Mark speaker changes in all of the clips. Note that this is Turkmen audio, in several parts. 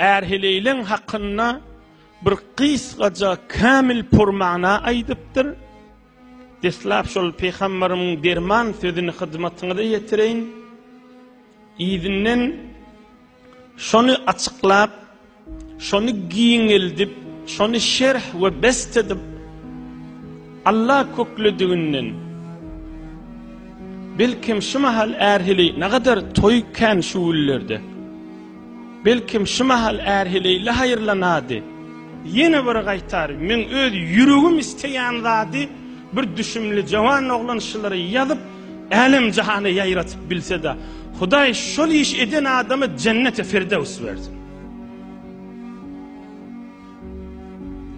Speaker 1: Ärheleýleň hakynda bir gysgaja kämil purmana aýdypdyr. Deslap şol peygamberimiň derman sözüni hyzmatyňyza ýetireýin. Ýidinden şony açyklap, şony giňeldip, şony şerh we best edip Allah köklediginden belkim şu mahal ärhili ne kadar toýkan şu günlerde. Belkem, şu mahal Ärheleýli haýyrlanady. Ýene bir gaýtar, meň öz ýüregim isleýän zady bir düşümli jawan oglan şylary ýazyp, älem-jahana ýaýratyp bilse-de, Hudaý şol iş eden adama jenneti firdews bersin.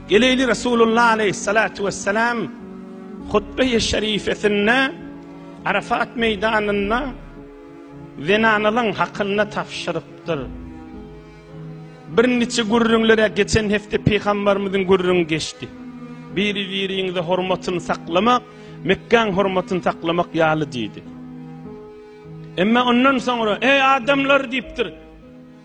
Speaker 1: Geleýli Resulullah aleýhissalatu wessalam hutbeýi şerifesinde Arafat meýdanynda Zenanalyň hakyna tabşyrypdyr. Birniçe gürrüňler-ä geçen hepde Pygambarymyzyň gürrüňi geçdi. Biri-biriňize hormatyny saklamak, Mekgäň hormatyny saklamak ýaly diýdi. Emma ondan soňra, Eý adamlar diýipdir.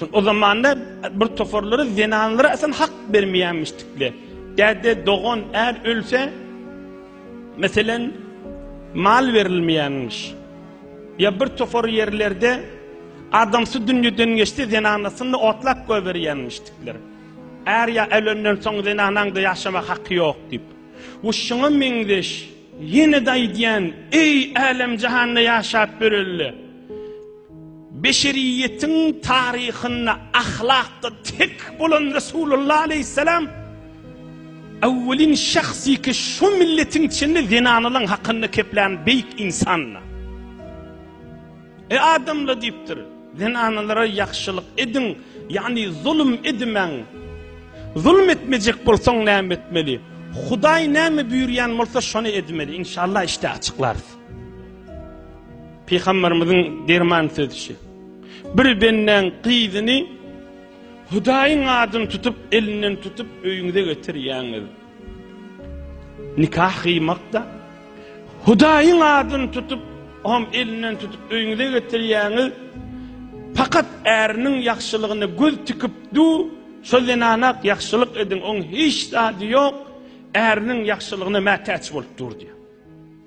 Speaker 1: Şol o zamanda bir toparlary zenanlara asan hak bermeýänmişdikler. Däde, dogan, är ölse, meselen, mal berilmeýänmiş. Ýa bir topar ýerlerde adamsy dünýeden geçse, zenanasyny otlap goýberýänmişdikler. Är ýa ölenden soň zenanaň-da ýaşamak haky ýok diýip. Bu şuňa meňzeş. Ýene-de aýdýan, eý, älem-jahanda ýaşap ýörelde, beşeriýetiň taryhynda ahlakda tek bolan Resulullah aleýhissalam äwwelin şahsy ki, şu milletiň içinde zenanalaň hakynda keplän beýik insandy. Ey adamlar diýipdir, zenanalara ýagşylyk ediň, ýagny zulum edimäň. Zulum etmejek bolsaň näme etmeli? Hudaý näme buýurýan bolsa şony edmeli. Inşallah işte açyklarys. Pygamberimiziň derman sözü. Bir benden gyzyny Hudaýyň adyny tutup, elinden tutup öýüňize getirýäňiz. Nikah gyýmakda Hudaýyň adyny tutup, oňam elinden tutup öýüňize getirýäňiz. Pakat äriniň ýagşylygyna göz tikip dur, şo zenana-ak ýagşylyk ediň, oň hiç zady ýok, äriniň ýagşylygyna mätäç bolup dur diýýär.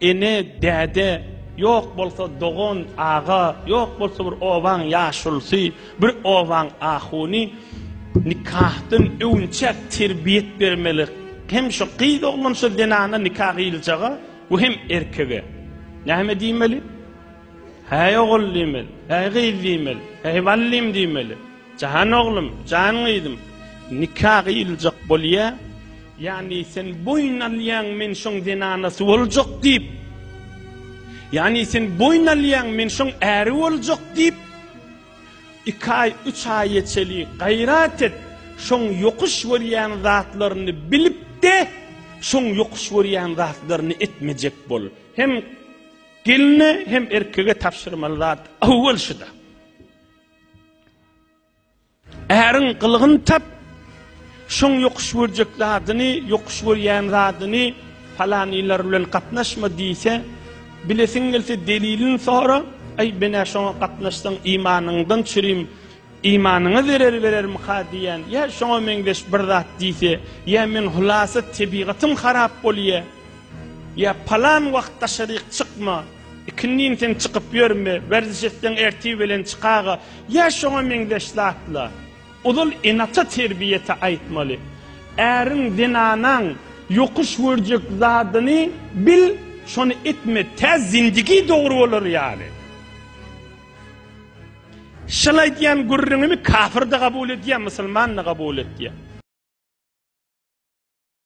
Speaker 1: Ene, däde, ýok bolsa dogan, aga, ýok bolsa bir obaň ýaşulusy, bir obaň ahuny nikahdan öwünçäk terbiýet bermeli. Hem şu gyz oglan şu zenana nika gyýyljaga we hem erkege. Näme diýmeli? Häý ogul diýmeli, häý gyz diýmeli, häý ballym diýmeli. Jan oglum, jan gyzym, nika gyýyljak bolýar. Ýagny sen boýun alýaň, men şoň zenanasy boljak diýip. Ýagny sen boýun alýaň, men şoň äri boljak diýip. Iki aý, üç aýa çeli gaýrat et, şoň ýokuş görýän zatlaryny bilip-de, şoň ýokuş görýän zatlaryny etmejek bol. Hem gelne, hem erkege tabşyrmaly zat awwal şuda. Äriň gylygyny tap, şoň ýokuş görjek zadyny, ýokuş görýän zadyny palanylar bilen gatnaşma diýse, bilesiň gelse delilini sora, aý menä şoňa gatnaşsaň imanyňdan çürim, imanyňa zerer berermika diýýän, ýa şoňa meňzeş bir zat diýse, ýa meň hulasa tebigatym harap bolýa, ýa palan wagt daşaryk çykma, Ikindin sen çykyp ýörme, werziş etseň ertir belen çykaga, ýa şoňa meňzeş zatlar. Ozal enata terbiýete aýtmaly. Äriň, zenanaň ýokuş görjek zadyny bil, şony etme, tä zindigi dogry bolar ýaly. Şol aýdýan gürrüňimi kafir-de gabul edýär, musulman-da gabul edýär.